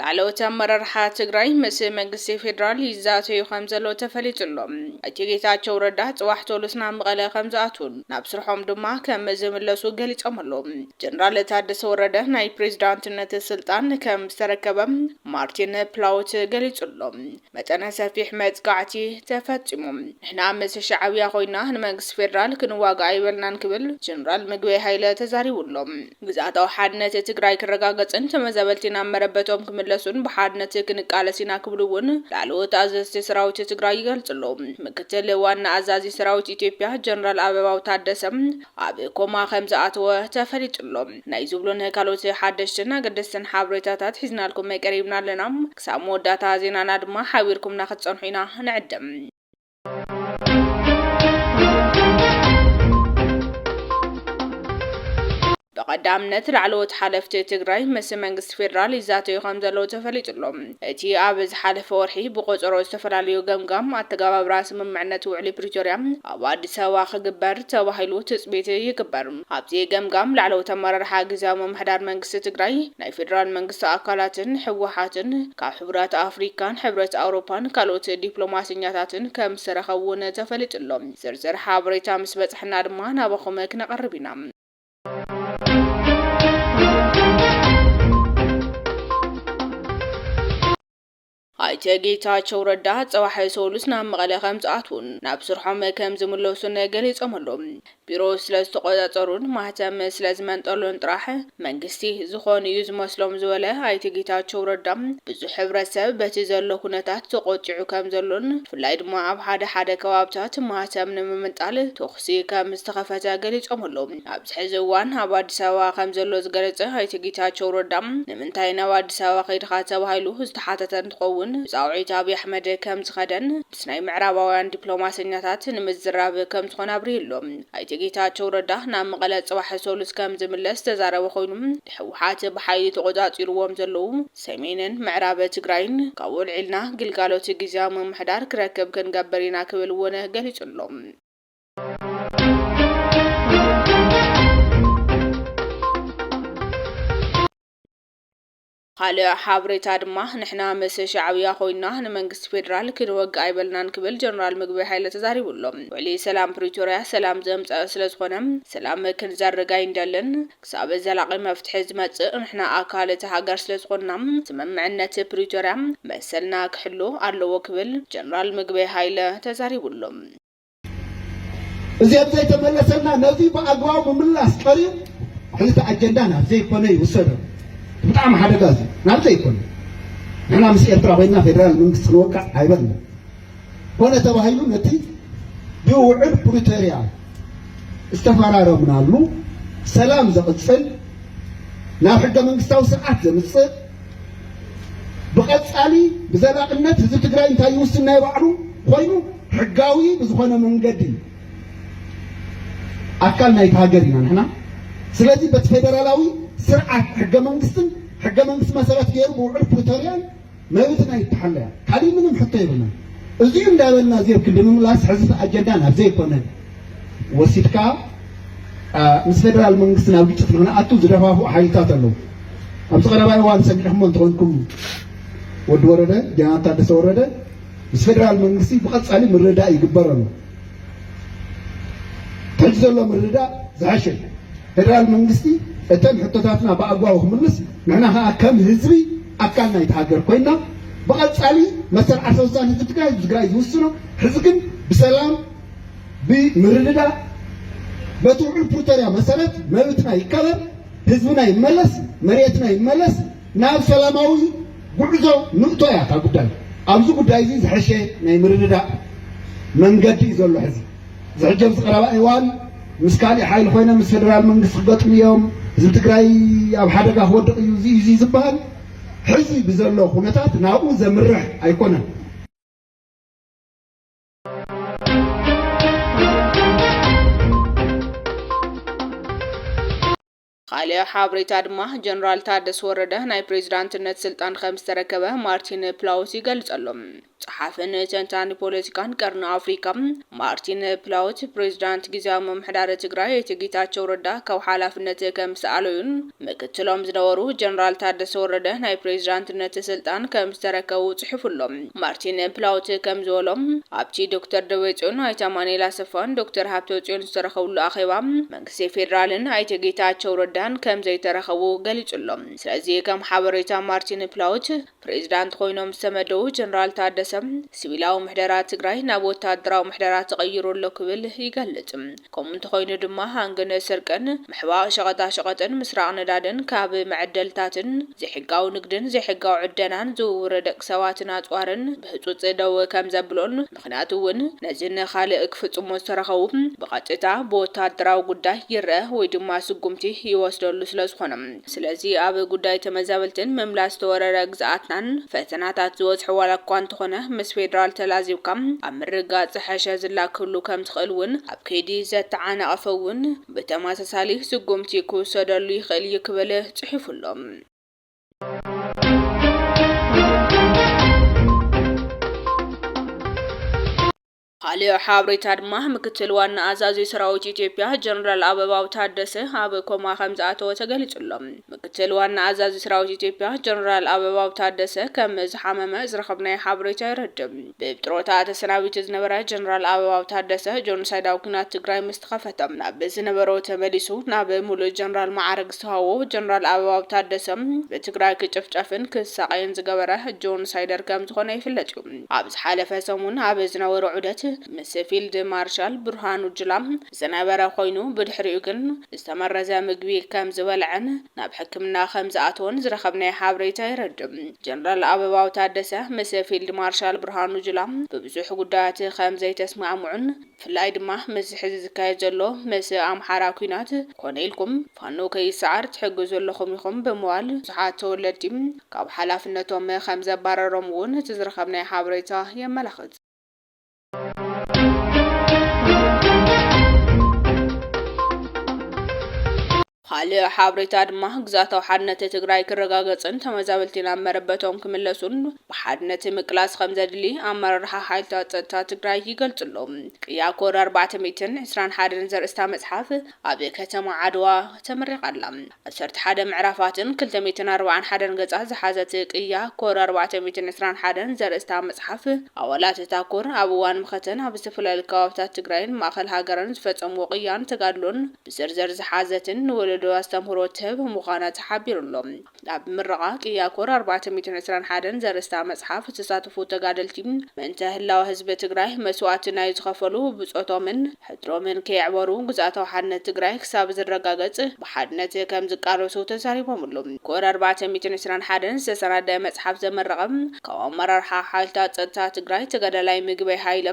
ላዕለዎት ኣመራርሓ ትግራይ ምስ መንግስቲ ፌዴራል ይዛተዩ ከም ዘለዉ ተፈሊጡ ኣሎ። ኣይተ ጌታቸው ረዳ ፅባሕ ቶሉስ ናብ መቐለ ከም ዝኣትዉን ናብ ስርሖም ድማ ከም ዝምለሱ ገሊፆም ኣለዉ። ጀነራል ታደሰ ወረደ ናይ ፕሬዝዳንትነት ስልጣን ከም ዝተረከበ ማርቲን ፕላውት ገሊፁ ኣሎ። መጠነ ሰፊሕ መጥቃዕቲ ተፈጺሙ። ንሕና ምስ ሻዕብያ ኮይና ንመንግስቲ ፌደራል ክንዋጋእ ኣይበልናን ክብል ጀነራል ምግበይ ሃይለ ተዛሪቡ ኣሎ። ግዝኣታዊ ሓድነት ትግራይ ክረጋገጽን ተመዛበልቲ ናብ መረበቶም ክምለሱን ብሓድነት ክንቃለስ ኢና ክብሉ እውን ላዕለዎት ኣዘዝቲ ሰራዊት ትግራይ ይገልጹ ኣለዉ። ምክትል ዋና ኣዛዚ ሰራዊት ኢትዮጵያ ጀነራል ኣበባው ታደሰ ኣብ ኮማ ከምዝኣተወ ተፈሊጡ ኣሎ። ናይ ዝብሉን ካልኦት ሓደሽትን ኣገደስትን ሓበሬታታት ሒዝናልኩም ቀሪብና ኣለና። ክሳብ መወዳእታ ዜናና ድማ ሓቢርኩምና ክትጸንሑ ኢና ንዕድም። ብቐዳምነት ላዕለዎት ሓለፍቲ ትግራይ ምስ መንግስቲ ፌዴራል ይዛተዩ ከም ዘለዉ ተፈሊጡ ኣሎ። እቲ ኣብ ዝሓለፈ ወርሒ ብቆፀሮ ዝተፈላለዩ ገምጋም ኣተገባብራ ስምምዕነት ውዕሊ ፕሪቶርያ ኣብ ኣዲስ ኣበባ ክግበር ተባሂሉ ትፅቢት ይግበር። ኣብዚ ገምጋም ላዕለዎት ኣመራርሓ ግዝያዊ ምምሕዳር መንግስቲ ትግራይ፣ ናይ ፌደራል መንግስቲ ኣካላትን ህወሓትን፣ ካብ ሕቡራት ኣፍሪካን ሕብረት ኣውሮፓን ካልኦት ዲፕሎማሰኛታትን ከምዝተረኸቡ እውን ተፈሊጡ'ሎ። ዝርዝር ሓበሬታ ምስ በፅሐና ድማ ናባኹም ክነቐርብ ኢና። ኣይተ ጌታቸው ረዳ ፀባሕ ሰሉስ ናብ መቐለ ከምዝኣትዉን ናብ ስርሖም ከምዝምለሱን ገሊፆም ኣለው። ቢሮ ስለዝተቖፃፀሩን ማህተም ስለዝመንጠሉን ጥራሕ መንግስቲ ዝኾኑ እዩ ዝመስሎም ዝበለ ኣይተ ጌታቸው ረዳ ብዙሕ ሕብረተሰብ በቲ ዘሎ ኩነታት ተቖጢዑ ከምዘሎን ብፍላይ ድማ ኣብ ሓደ ሓደ ከባብታት ማህተም ንምምንጣል ተኹሲ ከምዝተኸፈተ ገሊፆም ኣለው። ኣብዚ ሕዚ እዋን ኣብ ኣዲስ ኣበባ ከምዘሎ ዝገለፀ ኣይተ ጌታቸው ረዳ፣ ንምንታይ ናብ ኣዲስ ኣበባ ከይድኻ ተባሂሉ ዝተሓተተ እንትኸውን፣ ብፃውዒት ኣብይ ኣሕመድ ከምዝኸደን ምስ ናይ ምዕራባውያን ዲፕሎማሰኛታት ንምዝራብ ከምዝኾነ ኣብሪሁ ኣሎ። ኣይተ ጌታቸው ረዳ ናብ መቐለ ፅባሕ ሰሉስ ከምዝምለስ ዝተዛረበ ኮይኑ፣ ንህወሓት ብሓይሊ ተቖፃፂሩዎም ዘለው ሰሜንን ምዕራብ ትግራይን ካብኡ ኣልዒልና ግልጋሎት ጊዚያዊ ምምሕዳር ክረክብ ክንገብር ኢና ክብል እውን ገሊፁ ኣሎ። ካልእ ሓበሬታ ድማ ንሕና ምስ ሻዕብያ ኮይና ንመንግስቲ ፌዴራል ክንወግ ኣይበልናን ክብል ጀነራል ምግበይ ሓይለ ተዛሪቡ ኣሎ። ውዕሊ ሰላም ፕሪቶርያ ሰላም ዘምፀ ስለዝኾነ ሰላም ክንዘርግ ኣይንደልን። ክሳብ ዘላቂ መፍትሒ ዝመፅእ ንሕና ኣካል እቲ ሃገር ስለዝኾንና ስምምዕነት ፕሪቶርያ መሰልና ክሕሎ ኣለዎ ክብል ጀነራል ምግበይ ሃይለ ተዛሪቡ ኣሎ። እዚ ኣብዘይተመለሰና ነዚ ብኣግባቡ ምምላስ ቀሪዩ ሕልቲ ኣጀንዳ ናብ ዘይኮነ ይውሰዶ ብጣዕሚ ሓደጋ እዚ ናብ ዘይኮነ ንሕና ምስ ኤርትራ ኮይና ፌደራል መንግስቲ ክንወቃዕ ኣይበልና ኮነ ተባሂሉ ነቲ ብውዕል ፕሪቶሪያ ዝተፈራረምናሉ ሰላም ዘቕፅል ናብ ሕገ መንግስታዊ ስርዓት ዘምፅእ ብቐፃሊ ብዘላቕነት ህዝቢ ትግራይ እንታይ ይውስን ናይ ባዕሉ ኮይኑ ሕጋዊ ብዝኾነ መንገዲ ኣካል ናይቲ ሃገር ኢና ንሕና። ስለዚ በቲ ፌደራላዊ ስርዓት ሕገ መንግስትን ሕገ መንግስቲ መሰረት ገይሩ ብውዕል ፕሪቶርያን መብትና ይተሓለያ ካሊእ ምንም ሕቶ የብልና። እዚኡ እንዳበልና እዚ ኣብ ክንዲ ምምላስ ሕዚ ኣጀንዳ ናብ ዘይኮነ ወሲድካ ምስ ፌደራል መንግስቲ ናብ ግጭት ንክንኣቱ ዝደፋፍኡ ሓይልታት ኣለዉ። ኣብዚ ቀረባ እዋን ሰሚዕኹሞ እንተኾንኩም ወዲ ወረደ ጀነራል ታደሰ ወረደ ምስ ፌደራል መንግስቲ ብቐፃሊ ምርድዳእ ይግበረሉ። ከምዚ ዘሎ ምርድዳእ ዝሐሸ እዩ። ፌደራል መንግስቲ እተን ሕቶታትና ብኣግባቡ ክምልስ፣ ንሕና ከዓ ከም ህዝቢ ኣካል ናይቲ ሃገር ኮይና ብቐፃሊ መሰል ዓርሰ ውሳነ ህዝቢ ትግራይ ህዝቢ ትግራይ ዝውስኖ ሕዚ ግን ብሰላም ብምርድዳእ በቲ ውዕል ፕሪቶሪያ መሰረት መብትና ይከበር፣ ህዝብና ይመለስ፣ መሬትና ይመለስ። ናብ ሰላማዊ ጉዕዞ ንእቶ እያ እታ ጉዳይ። ኣብዚ ጉዳይ እዚ ዝሐሸ ናይ ምርድዳእ መንገዲ እዩ ዘሎ ሕዚ። እዚ ሕጂ ኣብዚ ቀረባ እዋን ምስ ካሊእ ሓይሊ ኮይኖም ምስ ፌደራል መንግስቲ ክገጥሙ እዮም፣ ህዝቢ ትግራይ ኣብ ሓደጋ ክወድቕ እዩ እዚ እዚ ዝበሃል ሕዚ ብዘሎ ኩነታት ናብኡ ዘምርሕ ኣይኮነን። ኻሊእ ሓብሬታ ድማ ጀነራል ታደሰ ወረደ ናይ ፕሬዚዳንትነት ስልጣን ኸምዝተረከበ ማርቲን ፕላውት ይገልፀሉ። ፀሓፍን ተንታኒ ፖለቲካን ቀርኒ ኣፍሪካ ማርቲን ፕላውት ፕሬዚዳንት ጊዚያዊ ምምሕዳር ትግራይ ኣይተ ጌታቸው ረዳ ካብ ሓላፍነት ከምዝተኣለዩን ምክትሎም ዝነበሩ ጀነራል ታደሰ ወረደ ናይ ፕሬዚዳንትነት ስልጣን ከምዝተረከቡ ፅሒፉ ኣሎ። ማርቲን ፕላውት ከምዝበሎ ኣብቲ ዶክተር ደብረፅዮን፣ ኣይተ ኣማኑኤል ኣሰፋን ዶክተር ሃብተፅዮን ዝተረኸብሉ ኣኼባ፣ ሴ ፌዴራልን ኣይተ ጌታቸው ረዳን ከምዘይተረኸቡ ገሊፁ'ሎ። ስለዚ ከም ሓበሬታ ማርቲን ፕላውት ፕሬዚዳንት ኾይኖም ዝተመደቡ ጀነራል ታደሰ ሲቪላዊ ምሕደራ ትግራይ ናብ ወታደራዊ ምሕደራ ተቐይሩ ኣሎ ክብል ይገልፅ። ከምኡ እንተኾይኑ ድማ ሃንግን ስርቅን፣ ምሕባእ ሸቐጣሸቐጥን ምስራቕ ነዳድን ካብ መዐደልታትን፣ ዘይሕጋዊ ንግድን ዘይሕጋዊ ዕደናን ዝውውር ደቂ ሰባትን ኣፅዋርን ብህፁፅ ደው ከምዘብሎን ምኽንያቱ እውን ነዚ ንኻልእ ክፍጽሞ ዝተረኸቡ ብቐጥታ ብወተሃደራዊ ጉዳይ ይረኣ ወይ ድማ ስጉምቲ ይወስደሉ ስለ ዝኾነ። ስለዚ ኣብ ጉዳይ ተመዛበልትን ምምላስ ዝተወረረ ግዝኣትናን ፈተናታት ዝበዝሖ ዋላ እኳ እንተኾነ ምስ ፌደራል ተላዚብካ ኣብ ምርግጋጽ ዝሐሸ ዝላ ክህሉ ከም ዝኽእል እውን ኣብ ከይዲ ዘተዓናቐፈ እውን ብተመሳሳሊ ስጉምቲ ክውሰደሉ ይኽእል እዩ ክብል ጽሒፉ ኣሎ። ካልእ ሓብሬታ ድማ ምክትል ዋና ኣዛዚ ሰራዊት ኢትዮጵያ ጀነራል ኣበባው ታደሰ ኣብ ኮማ ከም ዝኣተወ ተገሊጹ ኣሎ። ምክትል ዋና ኣዛዚ ሰራዊት ኢትዮጵያ ጀነራል ኣበባው ታደሰ ከም ዝሓመመ ዝረኸብናዮ ሓበሬታ የረድእ። ብጥሮታ ተሰናቢቱ ዝነበረ ጀነራል ኣበባው ታደሰ ጆኖሳይዳዊ ኲናት ትግራይ ምስ ተኸፈተ ናብ ዝነበሮ ተመሊሱ ናብ ሙሉእ ጀነራል መዓርግ ዝተሃዎ ጀነራል ኣበባው ታደሰ ብትግራይ ክጭፍጨፍን ክሳቐይን ዝገበረ ጆኖሳይደር ከምዝኾነ ይፍለጥ ዩ። ኣብ ዝሓለፈ ሰሙን ኣብ ዝነበሮ ዑደት ምስ ፊልድ ማርሻል ብርሃኑ ጁላ ዝነበረ ኮይኑ ብድሕሪኡ ግን ዝተመረዘ ምግቢ ከም ዝበልዐን ናብ ሕክምና ከም ዝኣተወን ዝረኸብናዮ ሓበሬታ የረድእ። ጀነራል ኣበባው ታደሰ ምስ ፊልድ ማርሻል ብርሃኑ ጁላ ብብዙሕ ጉዳያት ከም ዘይተስማዕምዑን ብፍላይ ድማ ምስዚ ሕዚ ዝካየድ ዘሎ ምስ ኣምሓራ ኲናት ኮነ ኢልኩም ፋኖ ከይሰዓር ትሕግዙ ኣለኹም ኢኹም ብምባል ብዙሓት ተወለድቲ ካብ ሓላፍነቶም ከም ዘባረሮም እውን እቲ ዝረኸብናዮ ሓበሬታ የመላኽት። ካልእ ሓብሬታ ድማ ግዛታዊ ሓድነት ትግራይ ክረጋገፅን ተመዛበልቲ ናብ መረበቶም ክምለሱን ብሓድነት ምቅላስ ከም ዘድሊ ኣመራርሓ ሓይልታት ፀጥታ ትግራይ ይገልፅሎም ቅያ ኮድ 421 ዘርእስታ መፅሓፍ ኣብ ከተማ ዓድዋ ተመሪቓ ኣላ። ዓሰርተ ሓደ ምዕራፋትን ክልተ ሚእትን ኣርባዓን ሓደን ገጻት ዝሓዘት ቅያ ኮር ኣርባዕተ ሚእትን ዕስራን ሓደን ዘርእስታ መጽሓፍ፣ ኣባላት እታ ኮር ኣብ እዋን መኸተን ኣብ ዝተፈላለዩ ከባብታት ትግራይን ማእኸል ሃገርን ዝፈጸምዎ ቅያን ተጋድሎን ብዝርዝር ዝሓዘትን ንወለዶ ኣስተምህሮ ትህብ ምዃና ተሓቢሩ'ሎ። ኣብ ምረቓ ቅያ ኮር ኣርባዕተ ሚእትን ዕስራን ሓደን ዘርእስታ መፅሓፍ ዝተሳተፉ ተጋደልቲ ምእንተ ህላወ ህዝቢ ትግራይ መስዋእቲ ናይ ዝኸፈሉ ብፆቶምን ሕድሮምን ከየዕበሩ ግዝኣታዊ ሓድነት ትግራይ ክሳብ ዝረጋገፅ ብሓድነት ከምዝቃለሱ ተዛሪቦምሉ። ኮር ኣርባዕተ ሚእትን ዕስራን ሓደን ዝተሰናደኣ መፅሓፍ ዘመረቐ ካብ ኣመራርሓ ሓይልታት ፀጥታ ትግራይ ተጋዳላይ ምግበይ ሃይለ፣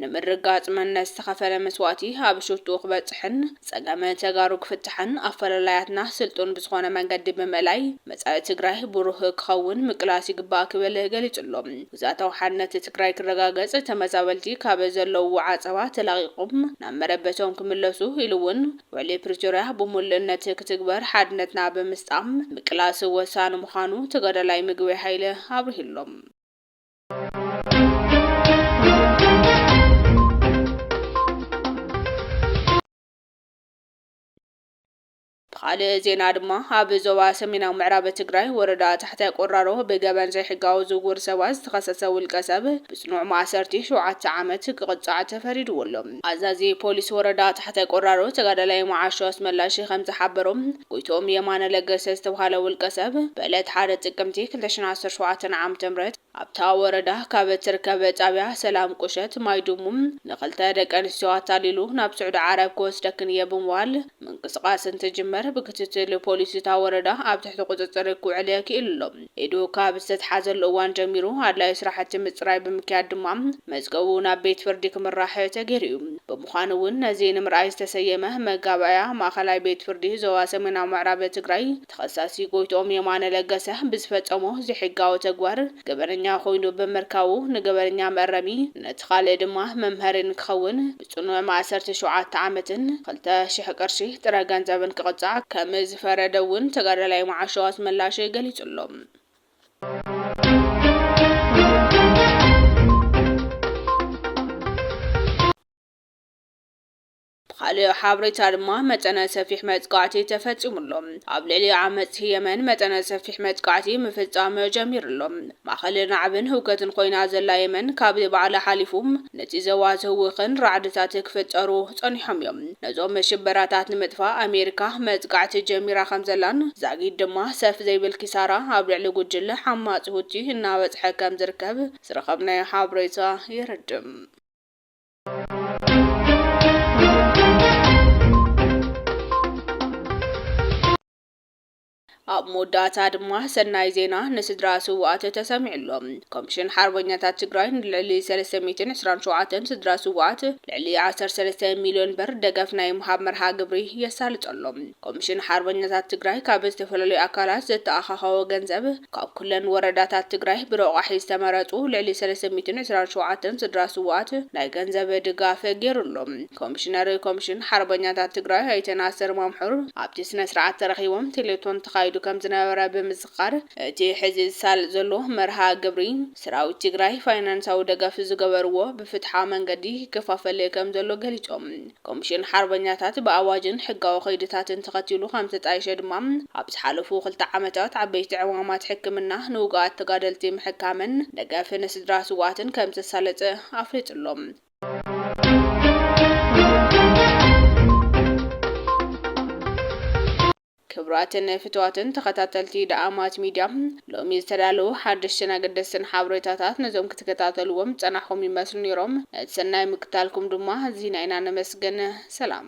ንምርግጋፅ መንነት ዝተኸፈለ መስዋእቲ ኣብ ሽትኡ ክበፅሕን ፀገም ተጋሩ ክፍታሕን ኣፈላላያትና ስልጡን ብዝኾነ መንገዲ ብምእላይ መፃኢ ትግራይ ብሩህ ክኸውን ምቅላስ ይግባእ ክብል ገሊፁ ኣሎ። ግዝኣታዊ ሓድነት ትግራይ ክረጋገፅ ተመዛበልቲ ካብ ዘለውዎ ዓፀባ ተላቒቖም ናብ መረበቶም ክምለሱ ኢሉ እውን ውዕሊ ፕሪቶርያ ብሙሉእነት ክትግበር ሓድነትና ብምስጣም ምቅላስ ወሳኒ ምዃኑ ተጋዳላይ ምግበይ ሃይለ ኣብሪሁ ኣሎ። ብኻልእ ዜና ድማ ኣብ ዞባ ሰሜናዊ ምዕራብ ትግራይ ወረዳ ታሕታይ ቆራሮ ብገበን ዘይሕጋዊ ዝውውር ሰባት ዝተኸሰሰ ውልቀ ሰብ ብጽኑዕ ማእሰርቲ ሸውዓተ ዓመት ክቕጻዕ ተፈሪድዎ ኣሎ። ኣዛዚ ፖሊስ ወረዳ ታሕታይ ቆራሮ ተጋዳላይ መዓሾ ኣስመላሽ ከም ዝሓበሮ ጎይትኦም የማነ ለገሰ ዝተብሃለ ውልቀሰብ ብዕለት ሓደ ጥቅምቲ ክልተ ሽሕን ዓሰርተ ሸውዓተን ዓም ትምህርት ኣብታ ወረዳ ካብ እትርከብ ጣብያ ሰላም ቁሸት ማይ ዱሙ ንክልተ ደቂ ኣንስትዮ ኣታሊሉ ናብ ስዑዲ ዓረብ ክወስደክን እየ ብምባል ምንቅስቃስ እንትጅምር ብክትትል ፖሊስ እታ ወረዳ ኣብ ትሕቲ ቁፅፅር ክውዕል ክኢሉ ኣሎ። ኢዱ ካብ ዝተትሓዘሉ እዋን ጀሚሩ ኣድላዩ ስራሕቲ ምፅራይ ብምክያድ ድማ መዝገቡ ናብ ቤት ፍርዲ ክምራሕ ተገይሩ እዩ። ብምዃኑ እውን ነዚ ንምርኣይ ዝተሰየመ መጋባእያ ማእኸላይ ቤት ፍርዲ ዞባ ሰሜናዊ ምዕራብ ትግራይ ተኸሳሲ ጎይትኦም የማነ ለገሰ ብዝፈፀሞ ዘይሕጋዊ ተግባር ገበነኛ ኮይኑ ብምርካቡ ንገበነኛ መእረሚ ነቲ ኻልእ ድማ መምሀሪ ንክኸውን ጽኑዕ ማእሰርቲ ሸውዓተ ዓመትን ክልተ ሽሕ ቅርሺ ጥረ ገንዘብን ክቕጻዕ ከምዝፈረደ እውን ተጋዳላይ መዓሾ ኣስመላሽ ገሊጹ ኣሎ። ብኻልእ ሓበሬታ ድማ መጠነ ሰፊሕ መጥቃዕቲ ተፈጺሙ ኣሎ። ኣብ ልዕሊ ዓመጽቲ የመን መጠነ ሰፊሕ መጥቃዕቲ ምፍጻም ጀሚሩ ኣሎ። ማእከል ናዕብን ህውከትን ኮይና ዘላ የመን ካብ ባዕላ ሓሊፉ ነቲ ዘዋ ዝህውኽን ራዕድታት ክፍጠሩ ጸኒሖም እዮም። ነዞም ሽበራታት ንምጥፋእ ኣሜሪካ መጥቃዕቲ ጀሚራ ከምዘላን ዛጊድ ድማ ሰፍ ዘይብል ኪሳራ ኣብ ልዕሊ ጉጅለ ዓማጺ ሁቲ እናበጽሐ ከምዝርከብ ዝረኸብናዮ ሓብሬታ የረድእ። ኣብ መወዳእታ ድማ ሰናይ ዜና ንስድራ ስውኣት ተሰሚዑ ኣሎ። ኮሚሽን ሓርበኛታት ትግራይ ንልዕሊ ሰለስተ ሚእትን ዕስራን ሸውዓተን ስድራ ስውኣት ልዕሊ ዓሰርተ ሰለስተ ሚልዮን ብር ደገፍ ናይ ምሃብ መርሃ ግብሪ የሳልጥ ኣሎ። ኮሚሽን ሓርበኛታት ትግራይ ካብ ዝተፈላለዩ ኣካላት ዘተኣኻኸቦ ገንዘብ ካብ ኩለን ወረዳታት ትግራይ ብረቋሒ ዝተመረፁ ልዕሊ ሰለስተ ሚእትን ዕስራን ሸውዓተን ስድራ ስውኣት ናይ ገንዘብ ድጋፍ ገይሩ ኣሎ። ኮሚሽነር ኮሚሽን ሓርበኛታት ትግራይ ኣይተ ናስር ማምሑር ኣብቲ ስነስርዓት ተረኺቦም ቴሌቶን ተኻይዱ ከምዝነበረ ብምዝኻር፣ እቲ ሕዚ ዝሳለጥ ዘሎ መርሃ ግብሪ ሰራዊት ትግራይ ፋይናንሳዊ ደገፍ ዝገበርዎ ብፍትሓዊ መንገዲ ይከፋፈል ከምዘሎ ገሊፆም። ኮሚሽን ሓርበኛታት ብኣዋጅን ሕጋዊ ከይድታትን ተኸቲሉ ከምዝተጣየሸ ድማ ኣብ ዝሓለፉ ክልተ ዓመታት ዓበይቲ ዕማማት ሕክምና ንውጉኣት ተጋደልቲ ምሕካምን ደገፍ ንስድራ ስውኣትን ከምዘሳለጠ ኣፍሊጡ'ሎ። ክቡራትን ፍትዋትን ተኸታተልቲ ደኣማት ሚድያ ሎሚ ዝተዳለዉ ሓደሽትን ኣገደስትን ሓበሬታታት ነዞም ክትከታተልዎም ዝጸናሕኹም ይመስሉ ነይሮም። ነቲ ሰናይ ምክታልኩም ድማ ኣዚና ኢና ነመስግን። ሰላም።